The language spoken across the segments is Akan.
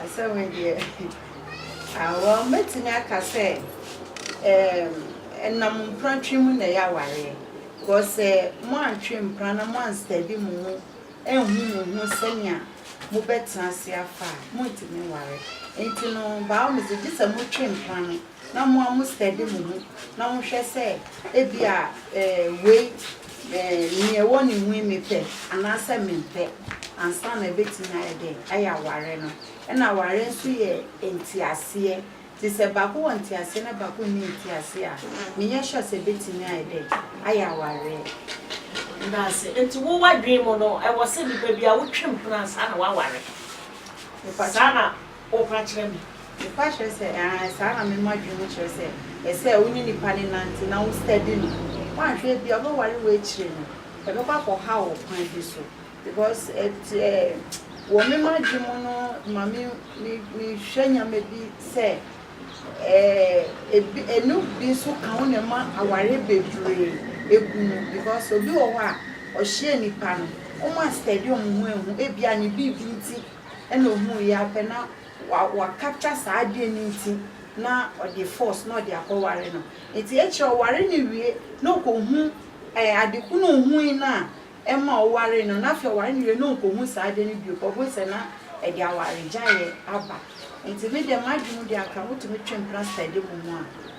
Asɛm yi deɛ ah well mɛtumi aka sɛ ɛɛm ɛnam mpena twe mu na ɛyɛ awareɛ cause sɛ moantwe mpena na moanstɛbi mo ho anhu mo ho sɛnea mobɛtena ase afa a montumi nware nti no by all means gye sɛ motwe mpena no. na mo a mostɛde mo ho na mohwɛ sɛ ebia wei nea ɛwɔ ne mu yi mepɛ anaasɛ mempɛ ansa na ɛbɛtumi ayɛ dɛn? Ayɛ awareɛ no. Ɛna awareɛ nso yɛ nteaseɛ nti sɛ baako wɔ nteaseɛ na baako nni nteaseɛ a, menyɛ sure sɛ ɛbɛtumi ayɛ dɛn? Ayɛ awareɛ. Meda ase. Nti wo w'adwene mu no ɛwɔ sɛ nipa bi a wotwa mu hunu ansa na waware? Saa na. Wo fa kyerɛ me. Me fa kyerɛ sɛ, aane, saa na me ma dwene mu kyerɛ sɛ, ɛsɛ wo ne nipa no nante na wo study no. Woanhwɛ a ebia ɔbɛware wo akyire no, ɛbɛkɔ akɔ haw wo kwan bi so. Because it eh wɔ me ma dwene mu no ma me me me hwɛ nneɛma bi sɛ, eh ebi ɛno bi nso ka ho na ɛma aware bebree ɛgu mu. Because obi wɔ hɔ a, ɔhyia nipa no, wɔn a study wɔn ho ahu ebia ne biribi nti Ɛna ohuu yi ara pɛ na wa capture saa adwene no nti na ɔde force na ɔde akɔ ware no. Nti akyire a ɔware no wie na ɔkɔhu ɛɛ ade ko na ohui no a ɛma ɔwaree no na afei ɔware no wie na ɔnkɔhu saa ade no bio kɔhunu sɛ na ɛde awaregyaeɛ aba. Nti me deɛ m'adwene mu deɛ anka wotumi twe mpena study mo ho a.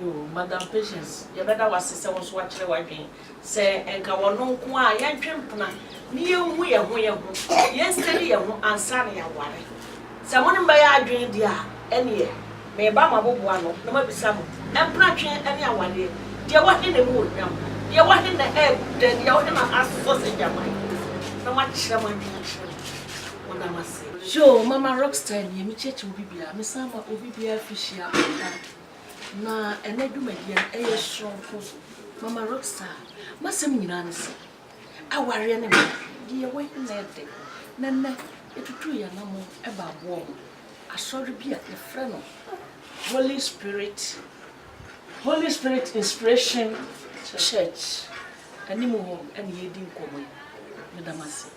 Yoo madam Patience yɛbɛda wo ase sɛ wo nso woakyerɛ w'adwen sɛ nka wɔno nko ara yɛntwe mpena ne yɛnhu yɛn ho yɛn ho yɛn study yɛn ho ansa na yɛaware sɛ mo ne me bɛyɛ adwen deɛ a ɛneɛ meba mabobo ano na mabisa mo mpena twe ne awareɛ deɛ wɔ he na ɛmu wɔ hwam deɛ wɔ he na ɛɛgu dɛn deɛ wɔ he na asɔ sɛ gyaman na moakyerɛ mo adwen akyerɛ me meda mo ase. Yoo mama rockstar nie me kyerɛkyerɛ obi biara me san ma obi biara firi hyia ɔkwan. Na ɛnɛ dwumadie no ɛyɛ soronko. Mama Roxa, m'asɛm nyinaa ne sɛ, awareɛ ne mmerɛ deɛ yɛwɔ yi na ɛdɛ. Na ɛnɛ yɛtutuu yɛn anammɔn ɛbaa boɔ ho. Asɔre bi a yɛfrɛ no Holy Spirit, Holy Spirit Inspiration Church anim hɔ na yɛredi nkɔmmɔ yi. Meda mo ase.